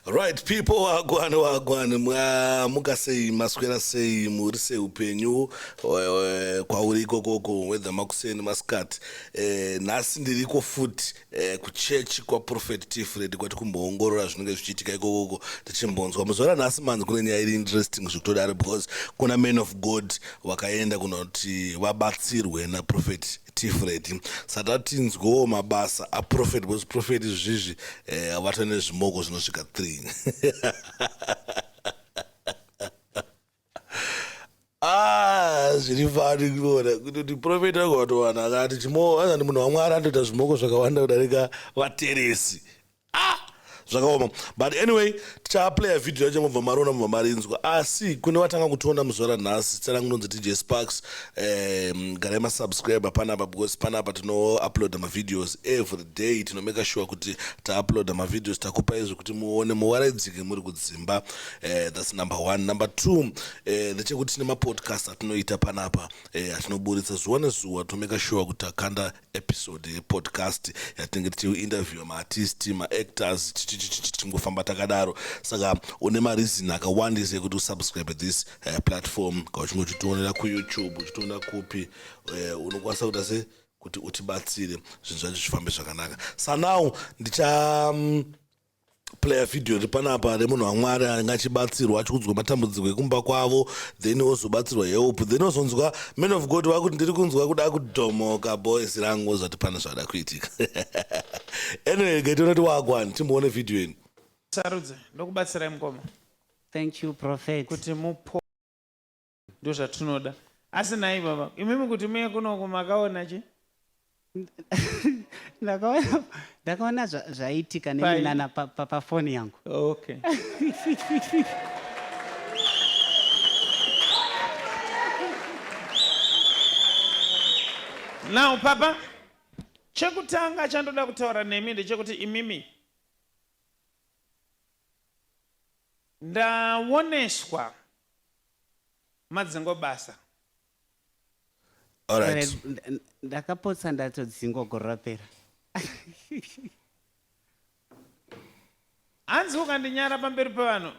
Right people wagwani wagwani mwamuka sei maswera sei muri sei upenyu kwauri ikokoko wedha makuseni masikati eh, nhasi ndiriko futi eh, kuchechi kwaprofet tifred kwati kumboongorora zvinenge zvichiitika ikokoko tichimbonzwa muzora nhasi manzi kune nyaya iri interesting zvekutodaro because kuna man of god vakaenda kunoti vabatsirwe naprofet tifredi sata tinzwewo mabasa aprofet bcause profet izvizvi eh, avata eh, nezvimoko zvinosvika three ah, zviri fani kuona kuti profet anga watowana akati chimo anani munhu wamwari anotoita zvimoko zvakawanda kudarika vateresi ah zvakaoma but anyway tichaplaya vhidhiyo yacho mobva mariona mobva marinzwa asi kune vatanga kutonda muzvara nhasi zita rangu ndonzi dj sparks um, garai masubscribe panapa because panapa tinouploada mavideos every day tinomeka sure kuti tauploada mavideos takupa izvi kuti muone muwaraidzike muri kudzimba uh, thats number one number two uh, eh, ndechekuti tine mapodcast atinoita panapa eh, atinoburitsa zuva nezuva tinomeka sure kuti takanda episode yepodcast yatinenge tichiinterviewa maartist maactors tichingofamba takadaro saka une mareason akawandisa ekuti usubscribe this uh, platform ka uchinge uchitionera kuyoutube uchitionera kupi uh, unokwanisa kuita se kuti utibatsire zvinhu zvacho zvifambe zvakanaka sanow ndicha um, player video iri panapa remunhu wamwari anenge achibatsirwa achikudzwa matambudziko ekumba kwavo then ozobatsirwa help then ozonzwa man of god vakuti ndiri kunzwa kuda kudhomoka boys rangu ozvati pana zvada kuitika anyway gaitonoti wagwani timboone video ini sarudze ndokubatsirai mukoma thank you prophet kuti mupo ndozvatinoda asi nai baba imimi kuti muye kunoko makaona chi ndakaona ndakaona zva- zvaiitika Pai? neminana pa- pa- pafoni yangu okay now papa chekutanga chandoda kutaura nemi ndechekuti imimi ndaoneswa madzingo basa Alright. Eh, nda- nda- ndakapotsa ndatodzingwa gore rapera hanzi ukandinyara pamberi pevanhu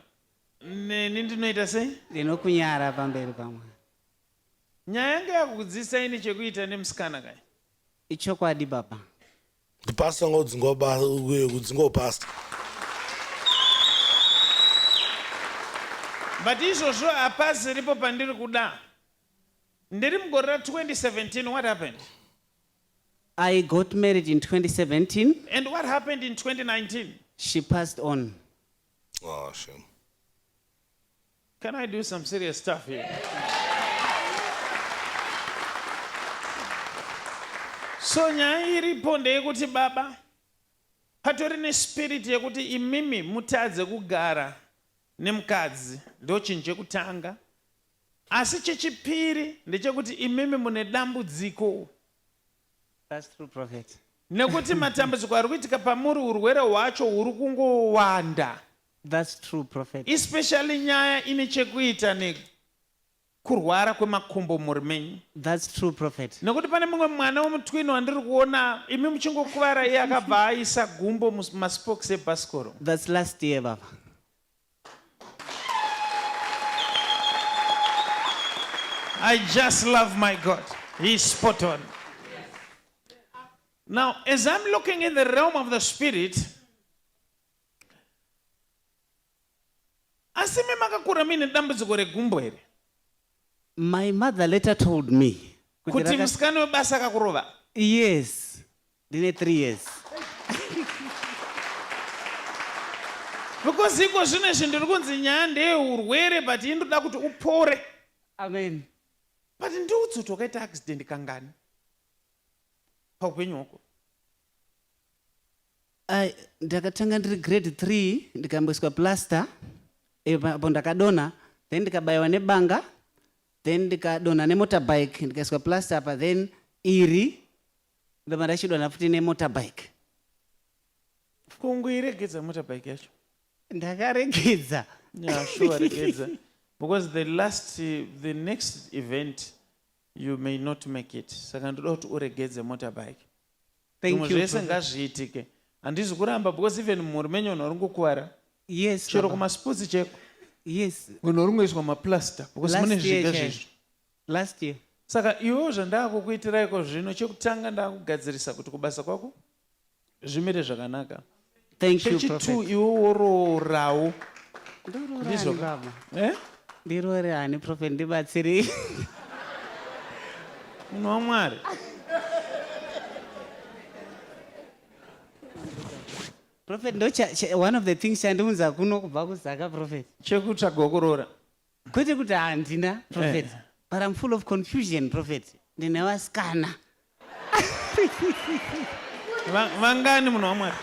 neni ndinoita sei ndinokunyara pamberi pamwe nyaya yange yakukudzidzisa ini chekuita nemusikana kai ichokwadi baba The pastor ngodzingwa kudzingwa pastor. But izvozvo apazi ripo pandiri kuda. Ndiri mugore ra 2017 what happened? I got married in 2017. And what happened in 2019? She passed on. Oh shame. Can I do some serious stuff here? So nyaya iripo ndeyekuti baba patori nespirit yekuti imimi mutadze kugara nemukadzi ndochinhu chekutanga asi chechipiri ndechekuti imimi mune dambudziko nekuti matambudziko ari kuitika pamuri urwere hwacho huri kungowanda That's true prophet. Especially nyaya ine chekuita nekurwara kwemakumbo mumhuri menyu. That's true prophet. Nekuti pane mumwe mwana wemutwini wandiri kuona imi muchingokuvara iye akabva aisa gumbo mumaspokes ebhasikoro. That's last year baba. I just love my God. He's spot on. Now, as I'm looking in the realm of the spirit, asi imi makakura muine dambudziko regumbo here my mother later told me kuti musikana webasa akakurova yes ndine three years because iko zvino izvi ndiri kunzi nyaya ndeyeurwere but i ndoda kuti upore amen but ndiudzi kuti wakaita accident kangani paupenyu hwako Ai, ndakatanga ndiri grade 3 ndikamboiswa plaster eh, pa- apo ndakadonha then ndikabayiwa nebanga then ndikadonha nemotorbike ndikaiswa plaster apa then iri ndobva ndachidonha futi nemotorbike kungoiregedza motorbike yacho ndakaregedza yeah sure regedza because the last eh, the next event you may not make it saka ndoda kuti uregedze motorbike zvimwe zvese ngazviitike handizi kuramba because even mhuri menyu vanhu vari kukuvara yes chero kumasports cheko yes vanhu vari kungoiswa maplaster because mune zviga zvizvo last year saka iwewo zvandakukuitiraiko zvino chekutanga ndakugadzirisa kuti kubasa kwako zvimire zvakanaka Thank you, Chechi two Prophet. iwe woroorawo. Ndiroore Ndizvo ani ka? baba? Eh? Ndiroore ani prophet ndibatsirei. Munhu waMwari. Prophet ndo cha- cha- one of the things chandiunza kuno kubva kuZaka prophet. Chekutsvagwa kuroora. kwete kuti handina prophet eh. but i'm full of confusion prophet ndine vasikana vangani munhu wamwari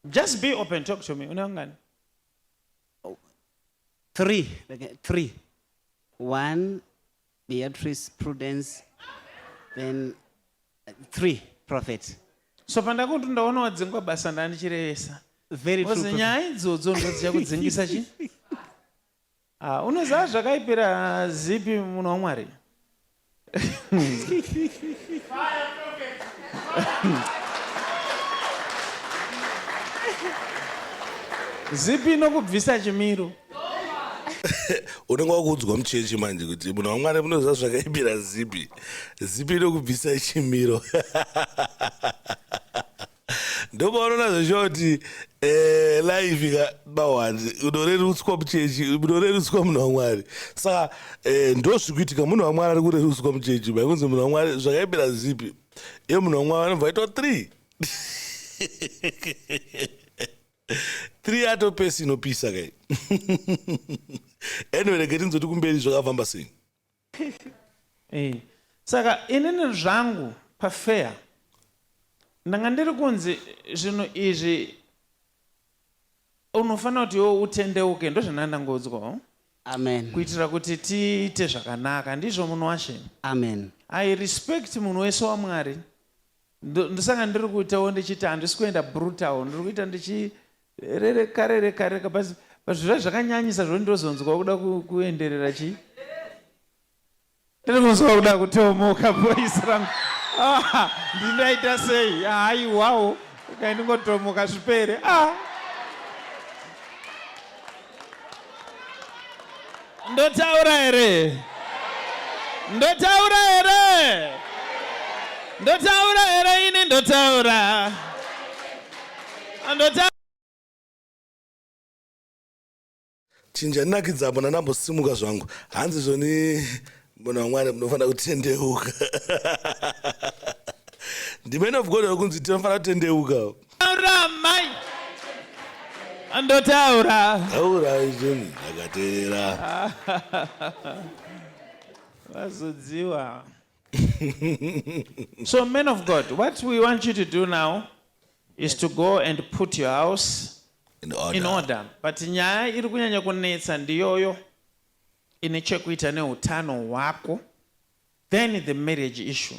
just be open talk to me une vangani three three one Beatrice Prudence then uh, three prophet so pandakuti ndaona wadzingwa basa ndandichirevesa very true nyaya idzodzo ndodzicha kudzingisa chi ah, unoziva zvakaipira zipi munhu wamwari zipi inokubvisa chimiro unenge wakuudzwa muchechi manje kuti munhu wamwari munoziva zvakaipira zipi zipi inokubvisa chimiro ndopaunoona zveshuwa kuti eh, life ikabawani unorerutswa muchechi munorerutswa munhu wamwari saka eh, ndozvikuitika munhu wamwari ari kurerutswa muchechi baikunzi munhu wamwari zvakaipira zipi iye munhu wamwari anobva aitwa three three ato pesi inopisa kai anyway rege tinzoti kumberi zvakafamba sei eh, saka inini zvangu pafeya ndanga ndiri kunzi zvinhu izvi unofanira kuti iwo utendeuke ndozvandanga ndangodzwa oh? amen kuitira kuti tiite zvakanaka ndizvo munhu washe amen i respect munhu wese wamwari ndosaka ndiri kuitawo ndichiita handisi kuenda brutal ndiri kuita ndichirereka rereka reka but zvirai zvakanyanyisa zvoti ndozonzwa kuda kuenderera chii ndiri kunzwa kuda kutomoka voice rangu ah, ndindaita sei haiwawo kaindingotomoka zvipere ah. Ndotaura here? Ndotaura here? Ndotaura here ini ndotaura. Ndotaura chinja nakidza apo ndanambosimuka zvangu hanzi zvoni munhu wamwari munofanira kutendeuka the man of god akunzi tinofanira kutendeuka Taura mai. Andotaura. Taura izvoni ndakateerera. Vazodziwa. so men of God, what we want you to do now is to go and put your house in order, in order. but nyaya iri kunyanya kunetsa ndiyoyo ine chekuita neutano hwako then the marriage issue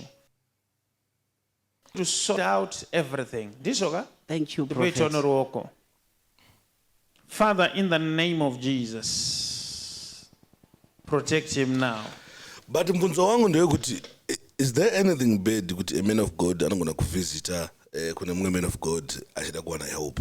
to sort out everything ndizvo ka thank you prophet ruoko father in the name of jesus protect him now but mbunzo wangu ndewekuti is there anything bad kuti a man of god anogona kuvisita eh, kune mumwe man of god achida kuwana help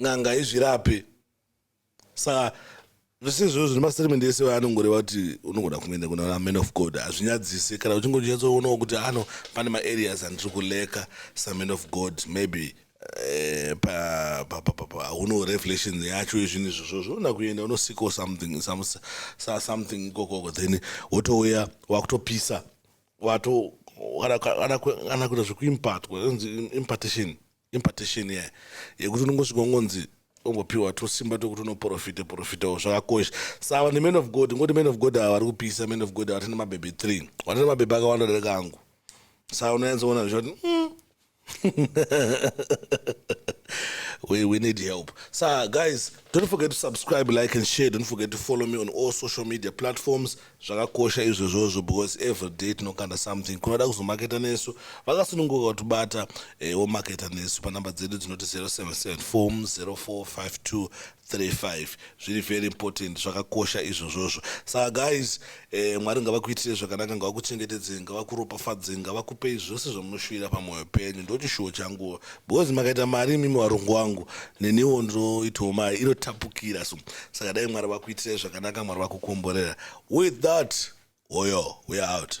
n'anga haizvirape saka zvese izvozvo zvine mastatement ese anongoreva kuti unogona kungoenda kuna man of god hazvinyadzise kana uchingonyatsoonawo kuti ano pane maareas andiri kuleka saman of god maybe eh, hauno revelation yacho yezvinhu izvozvo zvoona kuenda unosikawo something something ikokoko then wotouya wakutopisa wato kana kuita zvekuimpatwa impartation impartation iya yekuti unongosvika ungonzi ungopiwa tusimba twekuti unoprofita profitawo zvakakosha saka neman of god ngoti man of god ava vari kupisa man of god ava tine mabhebhe three watine mabhebhe akawanda dareka angu saka unonyatsoona zvichati mm. we, we need help so guys don't forget to subscribe like and share don't forget to follow me on all social media platforms Zvakakosha izvozvozvo because everyday tinokanda something kunoda kuzomaketa nesu vakasununguka kutibata eh, womaketa nesu panhamba dzedu dzinoti 0774 045235 zviri very important zvakakosha izvozvozvo saka guys eh, mwari ngavakuitire zvakanaka ngavakuchengetedzei ngavakuropafadzei ngavakupei zvose zvamunoshuvira pamwoyo penyu ndochishuwo changuwo Because makaita mari imimi varungu wangu neniwo ndinoitawo mari inotapukira so saka dai mwari vakuitirai zvakanaka mwari vakukomborera with that oyo we are out